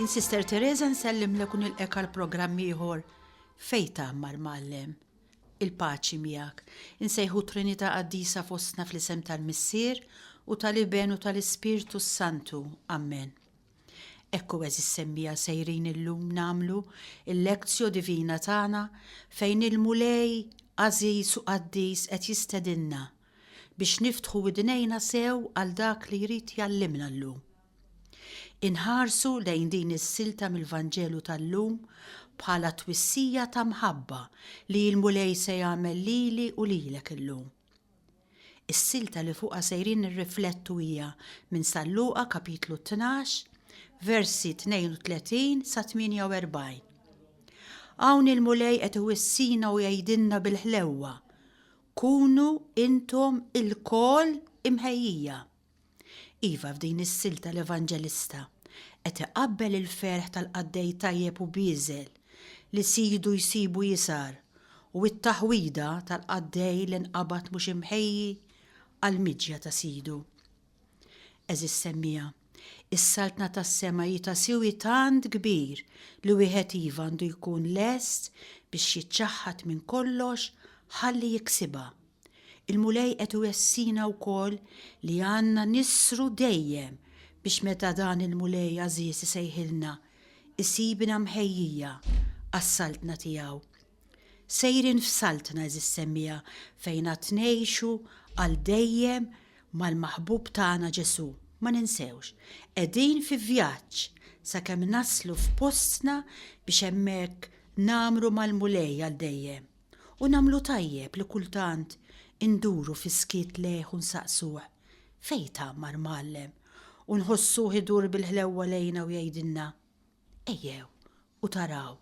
In Sister Teresa nsellimlek u nilqek għal programm ieħor fej tagħmar mallem. Il-paċi miegħek. Insejħu Trinità qaddisa fostna fl-isem tal-Missier u tal-Iben u tal-Ispirtu s-Santu. Amen. Ekku eżis semmija sejrin illum namlu il-lekzjo divina tagħna fejn il-Mulej Aziz u Qaddis qed jistedinna biex niftħu idnejna sew għal dak li jrid jallimna llum. Inħarsu lejn din is-silta mill-Vanġelu tal-lum bħala twissija ta' mħabba li l-Mulej se jagħmel lili u lilek illum. Is-silta li fuqha sejrin nirriflettu hija minn San Luqa kapitlu tnax, versi 32 sa 48. Hawn il-Mulej qed iwissina u jgħidilna bil-ħlewwa, Kunu intom ilkoll imħejjija. Iva, f'din is-silta l-Evanġelista qed iqabbel il-ferħ tal-qaddej tajjeb u bieżel li sidu jsibu jisgħar u t-taħwida tal-qaddej li nqabad mhux imħejji għall-miġja ta' sidu. Għeżież semmiegħa, is-Saltna tas-sema hi ta' siwi tant kbir li wieħed iva għandu jkun lest biex jiċċaħħad minn kollox ħalli jiksibha. Il-Mulej qed iwessina wkoll li għandna nisru dejjem biex meta dan il-Mulej għażiż isejħilna, isibna mħejjija għas-Saltna tiegħu. Sejrin f'Saltna, għeżież semmiegħa, fejn għad ngħixu għal dejjem mal-Maħbub tagħna Ġesù. Ma ninsewx, qegħdin fi vjaġġ sakemm naslu f'postna biex hemmhekk ngħammru mal-Mulej għal dejjem. u nagħmlu tajjeb li kultant induru fis-skiet lejh u nsaqsuh, Fejn tgħammar Mgħallem? u nħossuh idur bil-ħlewwa lejna u jgħidilna, Ejjew u taraw.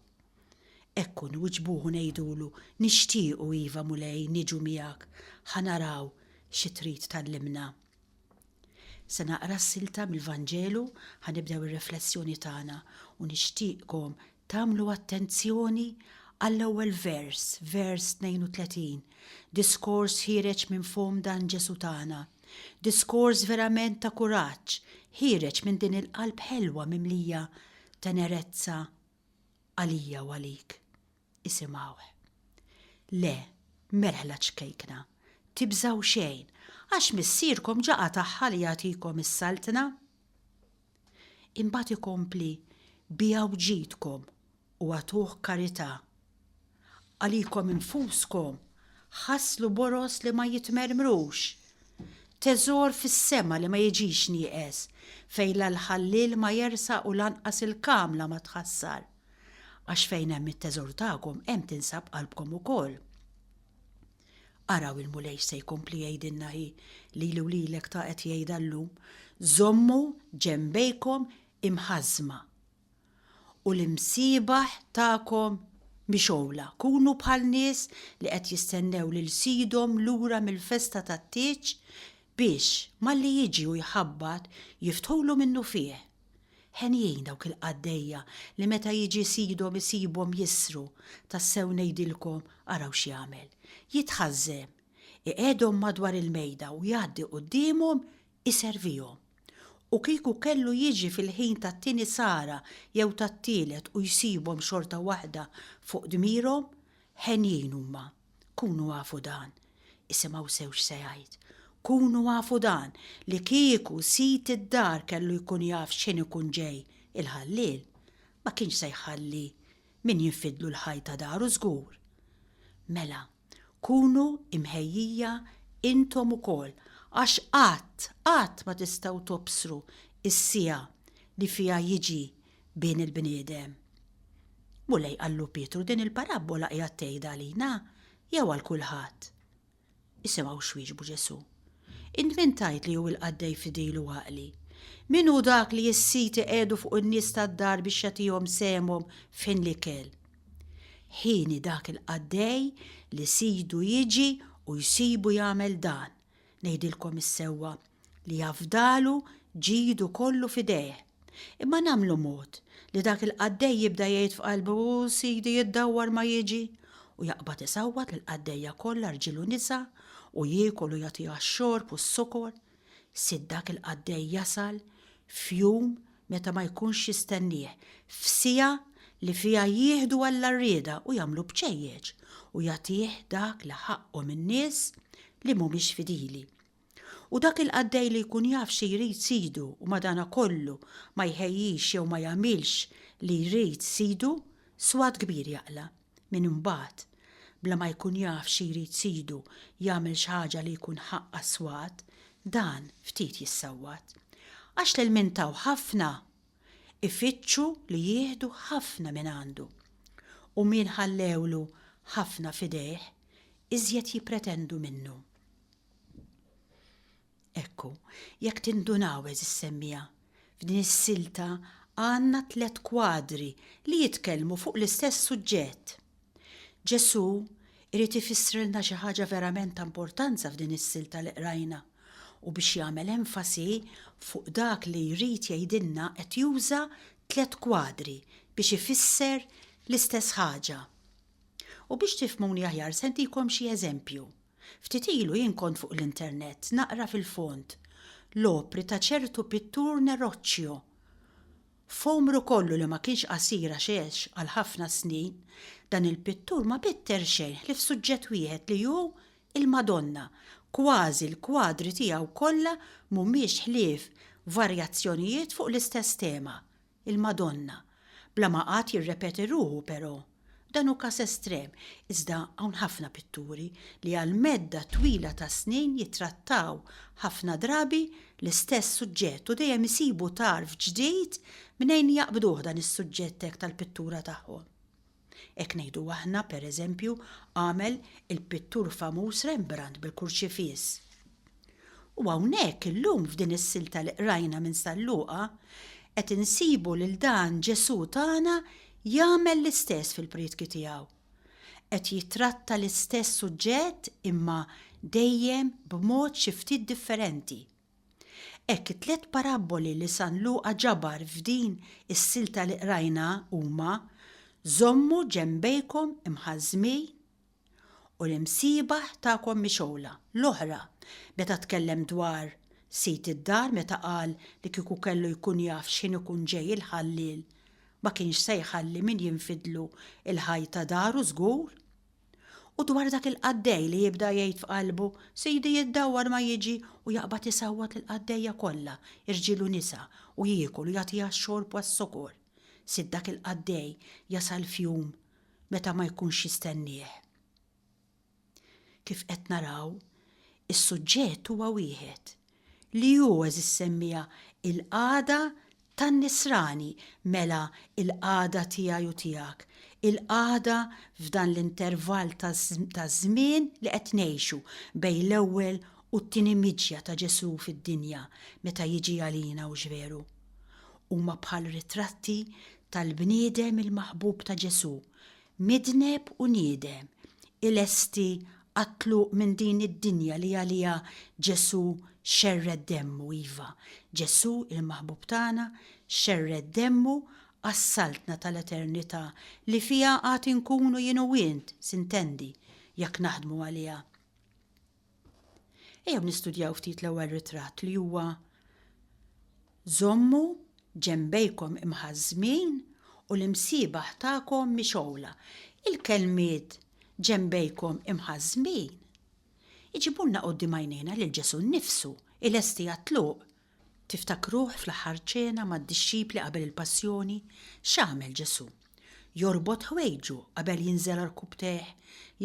Hekk hu nwiġbuh u ngħidulu, Nixtiequ, iva, Mulej, niġu miegħek, ħa naraw xi trid tgħallimna. Se naqra silta mill-Vanġelu, ħa nibdew ir-riflessjoni tagħna, u nixtieqkom Tagħmlu attenzjoni għall-ewwel vers, vers 32, diskors ħiereġ minn fomm dan Ġesù tagħna, diskors verament ta' kuraġġ, ħiereġ minn din il-qalb ħelwa mimlija tenerezza għalija u għalik. Isimgħuh. Le, merħla ċkejkna, tibżgħu xejn, għax Missierkom ġa qatagħha li jagħtikom is-saltna. Imbagħad ikompli, Biegħu ġidkom u agħtuh karità. Għalikom infuskom ħasslu boroż li ma jitmermrux, teżor fis-sema li ma jiġix nieqes, fejn la l-ħalliel ma jersaq u lanqas il-kamla ma tħassar. Għax fejn hemm it-teżor tagħkom hemm tinsab qalbkom ukoll. Araw il-Mulej se jkompli jgħidilna hi, lili u lilek ta' qed jgħidha llum, żommu ġenbejkom imħażżma u l-imsiebaħ tagħkom mixgħula, kunu bħal nies li qed jistennew lil sidhom lura mill-festa tat-tieġ biex, malli jiġi u jħabbat, jiftħulu minnufih. Henjin dawk il-qaddejja li meta jiġi sidhom isibhom jissru, tassew ngħidilkom araw x'jagħmel, jitħażżem, iqegħedhom madwar il-mejda u jgħaddi quddiemhom iservihom. U kieku kellu jiġi fil-ħin tat-tieni sara jew tat-tielet u jsibhom xorta waħda fuq dmirhom, henjin huma. Kunu afu dan, isimgħu sew x'se jgħid, kunu afu dan, li kieku sid id-dar kellu jkun jaf x'ħin ikun ġej il-ħalliel, ma kienx se jħalli min jinfidlu l-ħajt ta' daru żgur. Mela, kunu imħejjija intom ukoll, għax qatt, qatt ma tistgħu tobsru s-siegħa li fiha jiġi bejn il-bniedem. Mulej qallu Pietru din il-parabbola qiegħed tgħidha għalina jew għal kulħadd? Isimgħu x'wieġbu Ġesù. Int min tgħid li hu l-qaddej fidil u għaqli? Min hu dak li s-sid iqiegħdu fuq in-nies tad-dar biex jagħtihom sehemhom f'ħin l-ikel? Ħini dak il-qaddej li sidu jiġi u jsibu jagħmel dan. Ngħidilkom is-sewwa li jafdalu ġidu kollu f'idejh. Imma nagħmlu mod li dak il-qaddej jibda jgħid f'qalbu u sidi jiddawwar ma jiġi u jaqbad isawwat lil qaddejja kollha rġiel u nisa u jiekol u jagħtiha x-xorb u s-sokor. Sid dak il-qaddej jasal f'jum meta ma jkunx jistennieh, f'siegħa li fiha jieħdu għall-għarrieda u jagħmlu bċejjeċ u jagħtih dak li ħaqqu minn nies li mhumiex fidili. U dak il-qaddej li jkun jaf xi jrid sidu u madanakollu ma jħejjix jew ma jagħmilx li jrid sidu, swat kbir jaqla'. Min imbagħad, bla ma jkun jaf xi jrid sidu, jagħmel xi ħaġa li jkun ħaqq għas-swat, dan ftit jissawwat. Għax l-ilmin taw ħafna, ifittxu li jieħdu ħafna mingħandu. U min ħallewlu ħafna f'idejh, iżjed jippretendu minnu. Ekku, jekk tindunaw, għeżiż semmiegħa, f'din is-silta għandna tliet kwadri li jitkellmu fuq l-istess suġġett. Ġesù jrid ifissrilna xi ħaġa verament ta' importanza f'din is-silta li qrajna, u biex jagħmel enfasi fuq dak li jrid jgħidilna qed juża tliet kwadri biex ifisser l-istess ħaġa. U biex tifhmuni aħjar se ntikom xi eżempju. Ftit ilu jien kont fuq l-internet naqra fil-fond l-opri ta' ċertu pittur Neroccio. F'għomru kollu li ma kienx qasir għax għex għal ħafna snin, dan il-pittur ma bitter xejn ħlief suġġett wieħed li hu l-Madonna, kważi l-kwadri tiegħu kollha mhumiex ħlief varjazzjonijiet fuq l-istess tema, Il-Madonna. Bla ma qagħad jirrepeti ruħu, però. Dan hu każ estrem, iżda hawn ħafna pitturi li għal medda twila ta' snin jittrattaw ħafna drabi l-istess suġġett u dejjem isibu tarf ġdid mnejn jaqbduh dan is-suġġett hekk tal-pittura tagħhom. Hekk ngħidu aħna, per eżempju, għamel il-pittur famuż Rembrandt bil-kurċifiss. U hawnhekk illum f'din is-silta li qrajna minn San Luqa qed insibu lil dan Ġesù tagħna jagħmel l-istess fil-prietki tiegħu. Qed jittratta l-istess suġġett imma dejjem b'mod xi ftit differenti. Hekk it-tliet parabboli li San Luqa ġabar f'din is-silta li qrajna huma, Żommu ġenbejkom imħażżmin u l-imsiebaħ tagħkom mixgħula. L-oħra, meta tkellem dwar sid id-dar meta qal li kieku kellu jkun jaf x'ħin ikun ġej il-ħalliel ma kienx se jħalli min jinfidlu l-ħajt ta' daru żgur. U dwar dak il-qaddej li jibda jgħid f'qalbu, Sidi jiddawwar ma jiġi u jaqbad isawwat lill-qaddejja kollha, irġiel u nisa, u jiekol u jagħtiha x-xorb għas-sokor. Sid dak il-qaddej jasal f'jum meta ma jkunx jistennieh. Kif qed naraw, is-suġġett huwa wieħed, li hu għeżi ssemmieha il-qagħda tan-nisrani, mela il-qagħda tiegħi u tiegħek, il-qagħda f'dan l-intervall ta' żmien li qed ngħixu bejn l-ewwel u t-tieni miġja ta' Ġesù fid-dinja meta jiġi għalina hux veru. Huma bħal ritratti tal-bniedem il-maħbub ta' Ġesù Midneb u niedem, ilesti għat-tluq minn din id-dinja li għaliha Ġesù xerred demmu, iva, Ġesù, il-Maħbub tagħna, xerred demmu għas-saltna tal-eternità li fiha għad inkunu jien u int, sintendi, jekk naħdmu għaliha. Ejjew nistudjaw ftit l-ewwel ritratt li huwa Żommu ġenbejkom imħażżmin u l-imsiebaħ tagħkom mixgħula. Il-kelmiet ġenbejkom imħażżmin iġibulna quddiem għajnejna lil Ġesù nnifsu, ilesti għat-tluq Tiftakruh fl-Aħħar Ċena mad-dixxipli qabel il-Passjoni, x'għamel Ġesù? Jorbot ħwejġu qabel jinżel għarkupptejh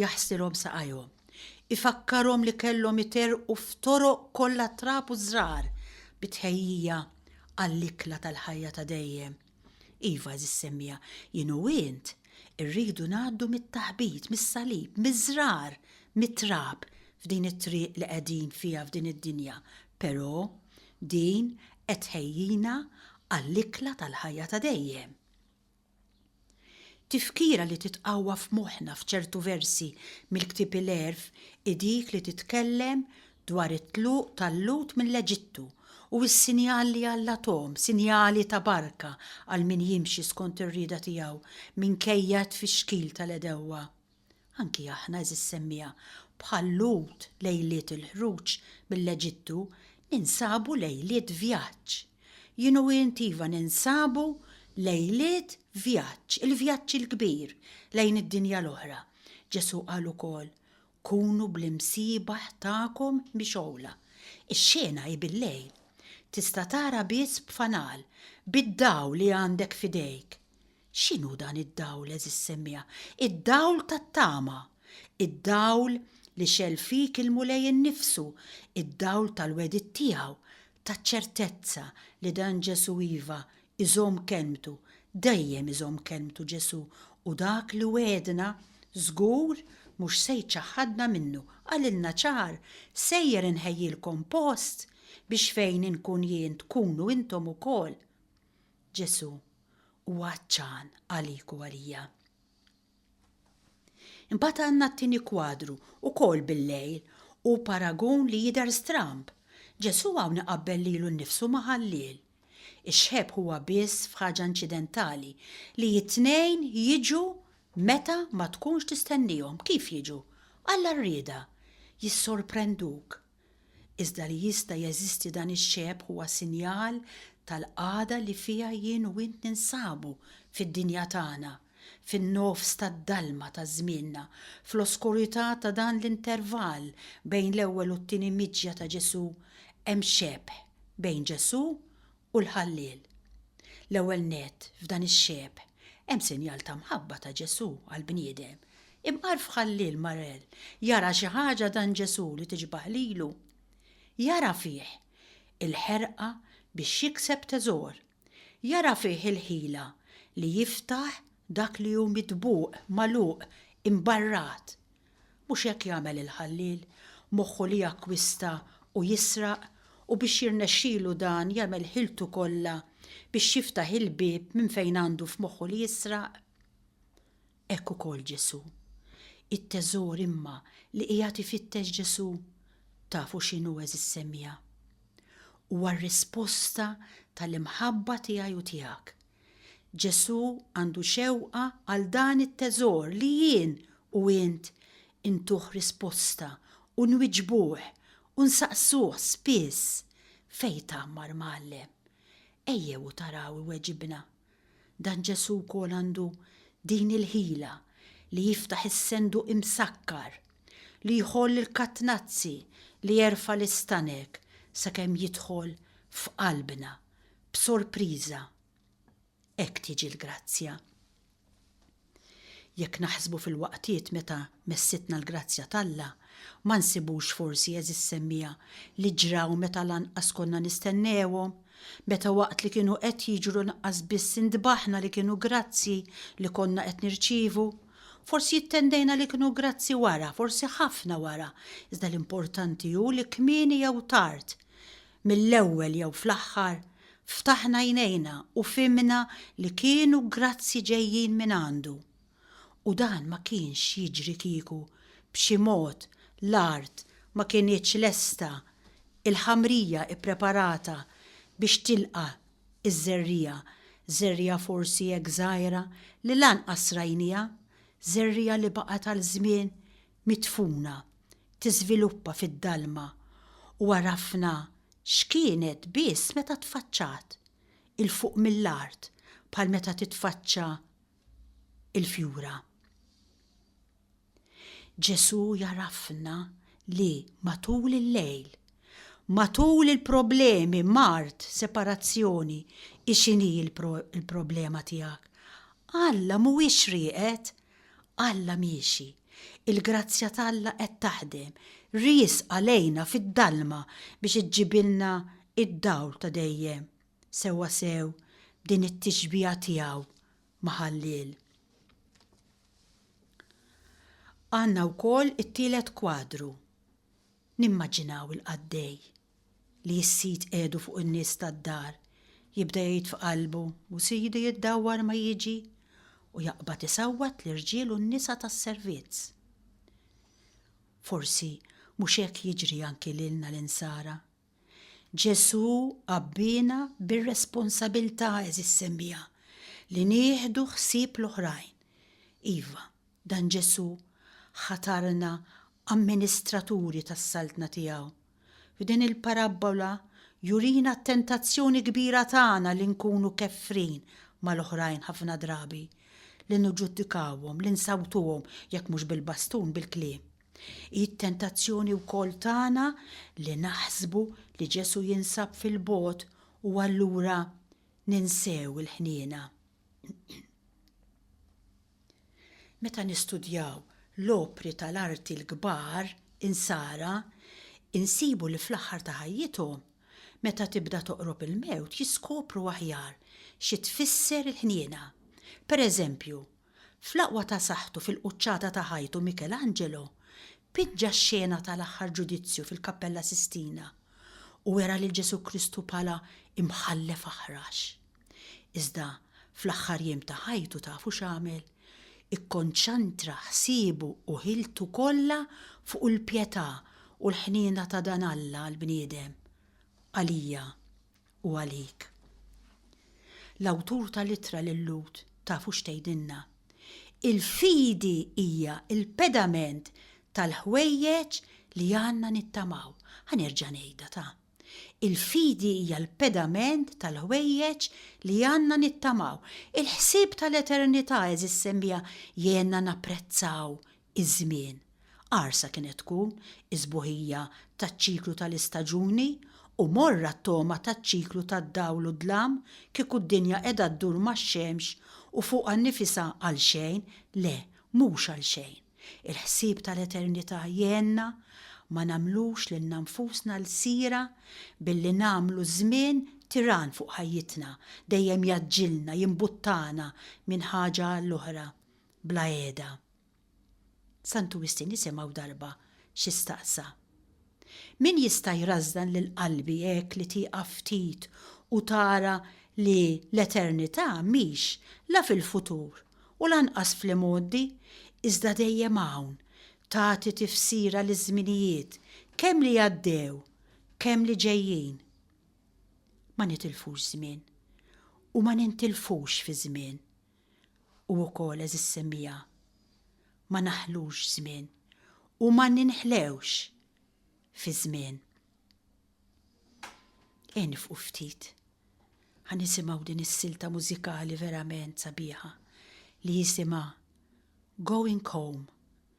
jaħsilhom saqajhom. Ifakkarhom li kellhom iterrqu f'toroq kollha trab u żrar bi tħejjija għall-ikla tal-ħajja ta' dejjem. Iva, għażiż semmiegħa, jien u int irridu ngħaddu mit-taħbit, mis-salib, miż-żrar, mit-trab f'din it-triq li qegħdin fiha f'din id-dinja, però din qed tħejjina għall-ikla tal-ħajja ta' dejjem. Tifkira li titqawwa f'moħħna f'ċertu versi mill-Ktieb il-Għerf hi dik li titkellem dwar it-tluq tal-Lhud mill-Eġittu u s-sinjal li Alla tahom, sinjali ta' barka għal min jimxi skont ir-rieda tiegħu minkejja t-tfixkil tal-għedewwa. Anki aħna, għeżież semmiegħa, bħal-Lhud lejliet il-ħruġ mill-Eġittu ninsabu lejliet vjaġġ. Jien u int iva ninsabu lejliet vjaġġ, il-vjaġġ il-kbir lejn id-dinja l-oħra. Ġesù qal ukoll, Kunu bl-imsiebaħ tagħkom mixgħula. Ix-xena hi bil-lejl. Tista' tara biss b'fanal, bid-dawl li għandek f'idejk. X'inhu dan id-dawl, għeżież semmiegħa? Id-dawl tat-tama! Id-dawl li xegħel fik il-Mulej innifsu, id-dawl tal-wegħdiet tiegħu, taċ-ċertezza li dan Ġesù iva, iżomm kelmtu, dejjem iżomm kelmtu Ġesù u dak li wegħedna żgur mhux se jċaħħadna minnu, qalilna ċar, sejjer inħejjilkom post biex fejn inkun jien tkunu intom ukoll. Ġesù huwa għatxan għalik u għalija. Imbagħad għandna t-tieni kwadru, ukoll bil-lejl, u paragun li jidher stramb. Ġesù hawn iqabbel lilu nnifsu ma' ħalliel. Ix-xħeb huwa biss f'ħaġa inċidentali, li t-tnejn jiġu meta ma tkunx tistennihom. Kif jiġu? Alla rriedha. Jissorprenduk. Iżda li jista' jeżisti dan ix-xebh huwa sinjal tal-qagħda li fiha jien u int ninsabu fid-dinja tagħna, fin-nofs tad-dalma ta' żmienna, fl-oskurità ta' dan l-intervall bejn l-ewwel u t-tieni miġja ta' Ġesù, hemm xebh bejn Ġesù u l-Ħalliel. L-ewwel nett, f'dan ix-xebh, hemm sinjal ta' mħabba ta' Ġesù għall-bniedem. Imqarrf Ħalliel Marel jara xi ħaġa dan Ġesù li tixbah lilu. Jara fih il-ħerqa biex jikseb teżor. Jara fih il-ħila li jiftaħ dak li hu mitbugħ, magħluq, imbarrat. Mhux hekk jagħmel il-ħalliel, moħħu li jakkwista u jisraq, u biex jirnexxilu dan jagħmel ħiltu kollha biex jiftaħ il-bieb minn fejn għandu f'moħħu li jisraq? Hekk ukoll Ġesù. It-teżor imma li qiegħed ifittex Ġesù, tafu x'inhu għeżież semmiegħa? Huwa r-risposta tal-imħabba tiegħi u tiegħek. Ġesù għandu xewqa għal dan it-teżor li jien u int intuh risposta u nwiġbuh u nsaqsuh spiss, Fejn tgħammar, Mgħallem? Ejjew u taraw iweġibna. Dan Ġesù wkoll għandu din il-ħila li jiftaħ is-senduq imsakkar, li jħoll il-katnazzi li jerfa' l-istanek sakemm jidħol f'qalbna, B'sorpriża, hekk tiġi l-grazzja. Jekk naħsbu fil-waqtiet meta messitna l-grazzja t'Alla, ma nsibux forsi, għeżież semmiegħa, li ġraw meta lanqas konna nistennewhom, meta waqt li kienu qed jiġru nqas biss intbaħna li kienu grazzji li konna qed nirċievu? Forsi ittendejna li kienu grazzji wara, forsi ħafna wara, iżda l-importanti hu li kmieni jew tard, Mill-ewwel jew fl-aħħar, ftaħna għajnejna u fhimna li kienu grazzji ġejjin minn għandu. U dan ma kienx jiġri kieku, b'xi mod, l-art ma kinitx lesta, il-ħamrija ppreparata biex tilqa' ż-żerriegħa, żerriegħa forsi hekk żgħira li lanqas rajnieha, żerriegħa li baqgħet għal żmien midfuna tiżviluppa fid-dalma u għarafna x'kienet biss meta tfaċċat 'il fuq mill-art bħal meta titfaċċa l-fjura. Ġesù jgħarafna li matul il-lejl, matul il-problemi, mard, separazzjoni, hi x'inhi l-problema tiegħek? Alla mhuwiex rieqed Alla miexi, il-grazzja t'Alla qed taħdem, riesqa lejna fid-dalma biex iġġibilna d-dawl ta' dejjem, sewwasew b'din it-tixbiha tiegħu ma' ħalliel. Għandna wkoll it-tielet kwadru. Nimmaġinaw il-qaddej li jissid edu fuq in-nies tad-dar, jibda jgħid f'qalbu, U sidi jiddawwar ma jiġi, u jaqbad isawwat l-irġiel u n-nisa tas-servizz. Forsi mhux hekk jiġri anki lilna l-Insara? Ġesù għabbiena bir-responsabilità, għeżież semmiegħa, li nieħdu ħsieb l-oħrajn. Iva, dan Ġesù ħatarna amministraturi tas-Saltna tiegħu. F'din il-parabbola jurina t-tentazzjoni kbira tagħna li nkunu kefrin mal-oħrajn ħafna drabi, li niġġudikawhom, li nsawtuhom, jekk mhux bil-bastun, bil-kliem. Hi t-tentazzjoni wkoll tagħna li naħsbu li Ġesù jinsab fil-bogħod u allura ninsew il-ħniena. Meta nistudjaw l-opri tal-arti l-kbar Insara, insibu li fl-aħħar ta' ħajjithom, meta tibda toqrob il-mewt jiskopru aħjar xi tfisser il-ħniena. Pereżempju, fl-aqwa ta' saħħtu fil-quċċata ta' ħajtu Michelangelo piġġa x-xena tal-aħħar ġudizzju fil-Kappella Sistina u wera lil Ġesù Kristu bħala Imħallef Aħrax. Iżda fl-aħħar jiem ta' ħajtu tafu x'għamel? Ikkonċantra ħsiebu u ħiltu kollha fuq il-pjetà u l-ħniena ta' dan Alla għall-bniedem, għalija u għalik. L-awtur tal-ittra lil Lhud tafu x'tgħidilna? Il-fidi hija l-pedament tal-ħwejjeġ li għandna nittamaw. Ħa nerġa' ngħidha ta'. Il-fidi hija l-pedament tal-ħwejjeġ li għandna nittamaw. Il-ħsieb tal-eternità, għeżież semmiegħa, jgħinna napprezzaw iż-żmien. Qarsa kienet tkun is-sbuħija taċ-ċiklu tal-istaġuni u morra t-togħma taċ-ċiklu tad-dawl u d-dlam, kieku d-dinja qiegħda ddur max-xemx u fuqha nnifisha għalxejn, le, mhux għalxejn. Il-ħsieb tal-eternità jgħinna ma nagħmlux lilna nfusna lsira billi nagħmlu ż-żmien tiran fuq ħajjitna, dejjem jgħaġġilna, jimbuttana minn ħaġa għall-oħra bla qiegħda. Santu Wistin isimgħu darba xi staqsa. Min jista' jrażżan lil qalbi hekk li tieqaf ftit u tara li l-eternità mhix la fil-futur u lanqas fl-imgħoddi, iżda dejjem hawn, tagħti tifsira liż-żminijiet, kemm li għaddew, kemm li ġejjin? Ma nitilfux żmien u ma nintilfux fiż-żmien. U wkoll, għeżież semmiegħa, ma naħlux żmien u ma ninħlewx fiż-żmien. Ejja nifqu ftit. Ħa nisimgħu din is-silta mużikali verament sabiħa li jisimha Going Home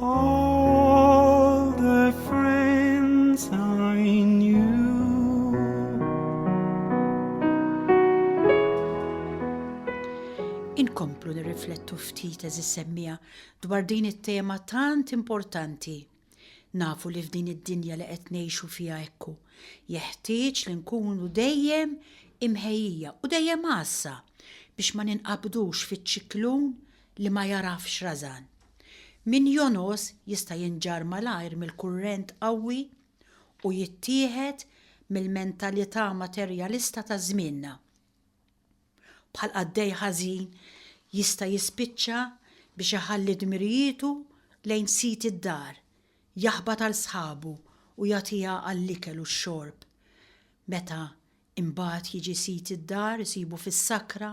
All the friends I knew Inkomplu nirriflettu ftit eżis semmija dwar din it-tema tant importanti Nafu li f'din id-dinja li qed ngħixu fiha ekku, jeħtieġ li nkunu dejjem imħejjija u dejjem għassa biex ma ninqabdux fiċ-ċiklun li ma jagħrafx rażan. Min jogħnos jista' jinġarr malajr mill-kurrent qawwi u jittieħed mill-mentalità materjalista ta' żmienna. Bħal qaddej ħażin jista' jispiċċa biex iħalli dmirijietu lejn sid id-dar, jaħbat għal sħabu u jagħtiha għall-ikel u x-xorb meta Imbagħad jiġi sid id-dar isibu fis-sakra,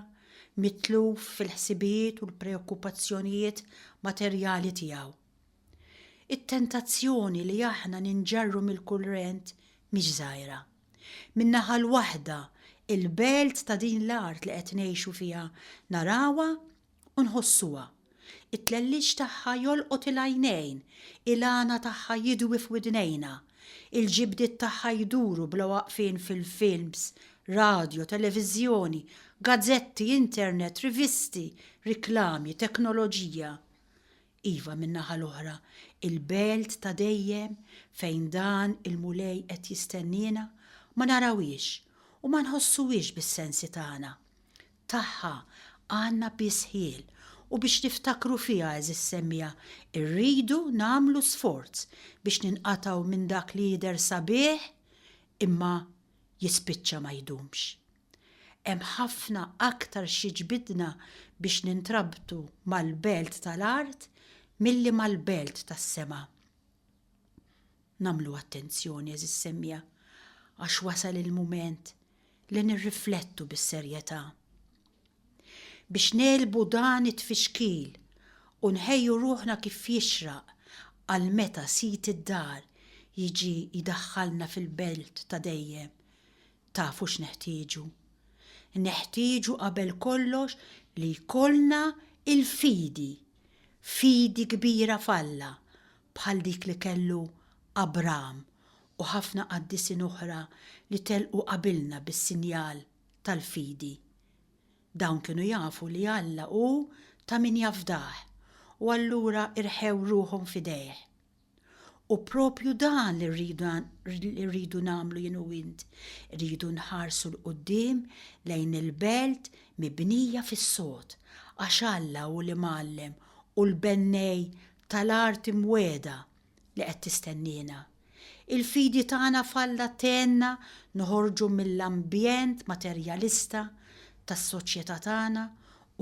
mitluf fil-ħsibijiet u l-preokkupazzjonijiet materjali tiegħu. It-tentazzjoni li aħna ninġarru mill-kurrent mhix żgħira. Min-naħa l-waħda, il-belt ta' din l-art li qed ngħixu fiha narawha u nħossuha. It-tlelliġ tagħha jolqot il-għajnejn, il-għana tagħha jidwi f'widnejna, il-ġibdiet tagħha jduru bla waqfien fil-films, radjo, televiżjoni, gazzetti, internet, rivisti, riklami, teknoloġija. Iva, min-naħa l-oħra, il-belt ta' dejjem fejn dan il-Mulej qed jistenniena ma narawhiex u ma nħossuhiex bis-sensi tagħna. tagħha għandna biss ħjiel u biex niftakru fiha għeżież semmiegħa rridu nagħmlu sforz biex ninqatgħu minn dak li jidher sabiħ imma jispiċċa ma jdumx. Hemm ħafna aktar x'jiġbidna biex nintrabtu mal-belt tal-art milli mal-belt tas-sema. Nagħmlu attenzjoni, għeżież semmiegħa, għax wasal il-mument li nirriflettu bis-serjetà. Biex negħlbu dan it-tfixkil u nħejju ruħna kif jixraq għal meta sid id-dar jiġi jdaħħalna fil-belt ta' dejjem, tafu x'neħtieġu? Neħtieġu qabel kollox li jkollna l-fidi, fidi kbira f'Alla, bħal dik li kellu Abram u ħafna qaddisin oħra li telqu qabilna bis-sinjal tal-fidi. Dawn kienu jafu li Alla hu ta' min jafdah u allura rħew ruħhom f'idejh. U proprju dan li rridu nagħmlu jien u int, irridu nħarsu 'l quddiem lejn il-belt mibnija fis-sod, għax Alla hu l-Imgħallem u l-Bennej tal-arti mwiegħda li qed tistenniena. Il-fidi tagħna f'Alla tgħinna noħorġu mill-ambjent materjalista tas-soċjetà tagħna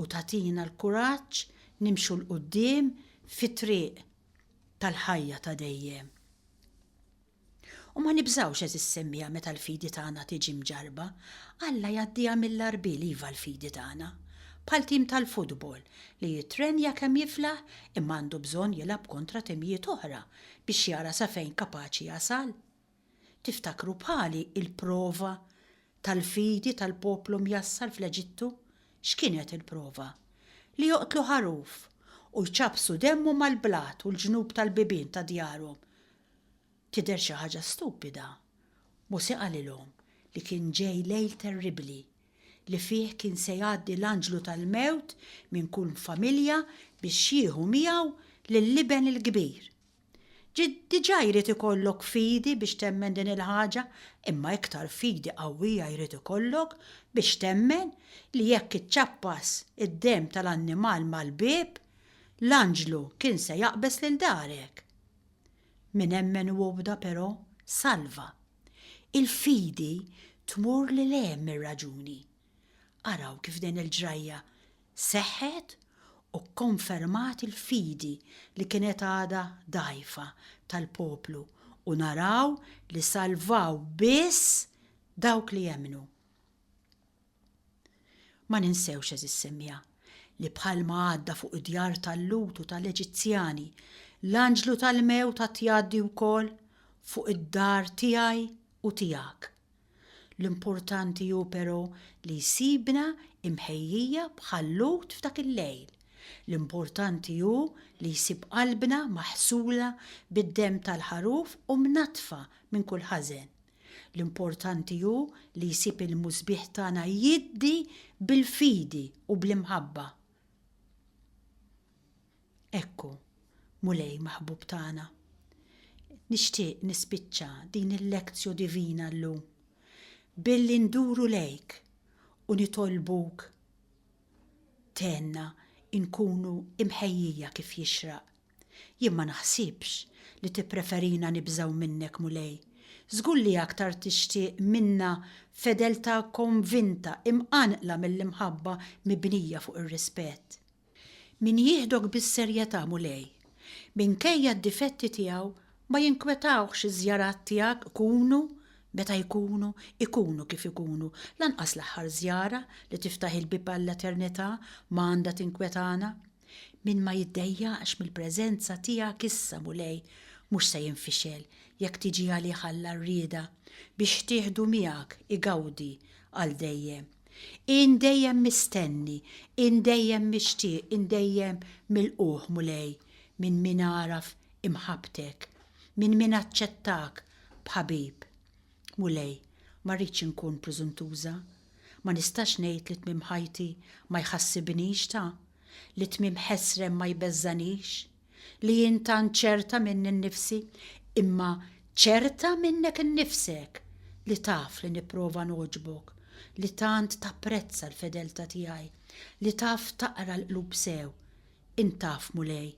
u tagħtina l-kuraġġ nimxu 'l quddiem fit-triq tal-ħajja ta' dejjem. U ma nibżgħux għeżież semmiegħa meta l-fidi tagħna tiġi mġarrba, Alla jgħaddiha mill-għarbiel iva l-fidi tagħna. Bħal tim tal-futbol li jittrenja kemm jiflaħ imma għandu bżonn jilgħab kontra timijiet oħra biex jara sa fejn kapaċi jasal. Tiftakru bħali il-prova tal-fidi tal-poplu mjassar fl-Eġittu? X'kienet il-prova? Li joqtlu ħaruf u jċappsu demmu mal-blat u l-ġnub tal-bibien ta' djarhom. Tidher xi ħaġa stupida. Mosè qalilhom li kien ġej lejl terribbli, li fih kien se jgħaddi l-anġlu tal-mewt minn kull familja biex jieħu miegħu lill-iben il-kbir. Ġid diġà jrid ikollok fidi biex temmen din il-ħaġa, imma iktar fidi qawwija jrid ikollok biex temmen li jekk iċċappas id-demm tal-annimal mal-bieb, l-anġlu kien se jaqbeż lil darek. Min emmen u obda però, salva. Il-fidi tmur lil hemm mir-raġuni. Araw kif din il-ġrajja seħħet u kkonfermat il-fidi li kienet għadha dgħajfa tal-poplu u naraw li salvaw biss dawk li emmnu. Ma ninsewx, għeżież semmiegħa, li bħalma għadda fuq id-djar tal-Lhud u tal-Eġizzjani, l-anġlu tal-mewt għad jgħaddi wkoll fuq id-dar tiegħi u tiegħek. L-importanti hu però li jsibna imħejjija bħal Lhud f'dak il-lejl. L-importanti hu li jsib qalbna maħsula bid-demm tal-ħaruf u mnaddfa minn kull ħażen. L-importanti hu li jsib il-Musbieħ tagħna jiddi bil-fidi u bl-imħabba. Ekku, Mulej maħbub tagħna, nixtieq nispiċċa din il-Lectio Divina llum billi nduru lejk u nitolbuk tgħinna nkunu mħejjija kif jixraq Jien ma naħsibx li tippreferina nibżgħu minnek, Mulej. Żgur li aktar tixtieq minna fedeltà konvinta, imqanqla mill-imħabba mibnija fuq ir-rispett. Min jieħdok bis-serjetà, Mulej, minkejja d-difetti tiegħu, ma jinkwetawhx iż-żjarat tiegħek ikunu meta jkunu, ikunu kif ikunu. Lanqas l-aħħar żjara li tiftaħ il-bieb għall-eternità ma għandha tinkwetana. Min ma jiddejjaqx mill-preżenza tiegħek issa, Mulej, mhux se jinfixel jekk tiġi għalih Alla r-rieda biex tieħdu miegħek igawdi għal dejjem. Ien dejjem mistenni, ien dejjem mixtieq, ien dejjem milqugħ, Mulej, minn min għaraf imħabbtek, minn min aċċettak b'ħabib. Mulej, ma rridx inkun preżuntuża. Ma nistax ngħid li tmiem ħajti ma jħassibnix ta', li tmiem ħesrem ma jbeżżanix, li jien tant ċerta minni nnifsi, imma ċerta minnek innifsek, li taf li nipprova nogħġbok, li tant tapprezza l-fedeltà tiegħi, li taf taqra l-qlub sew, Int taf, Mulej,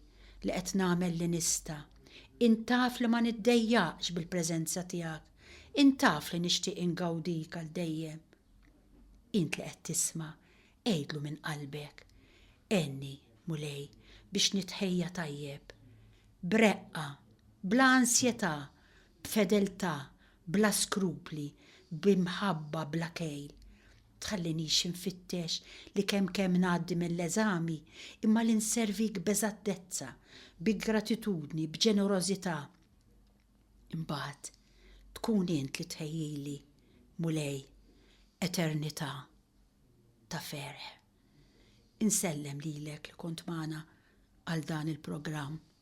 li qed nagħmel li nista'. Int taf li ma niddejjaqx bil-preżenza tiegħek. Int taf li nixtieq ingawdik għal dejjem. Int li qed tisma', għidlu minn qalbek, Għenni, Mulej, biex nitħejja tajjeb. B'reqqa, bla ansjetà, b'fedeltà, bla skrupli, b'imħabba bla kejl. tħallinix infittex li kemm kemm ngħaddi mill-eżami imma li nservik b'eżattezza, bi gratitudni, b'ġenerożità. Imbagħad tkun int li tħejjili, Mulej, eternità ta' ferħ. Insellem lilek li kont magħna għal dan il-programm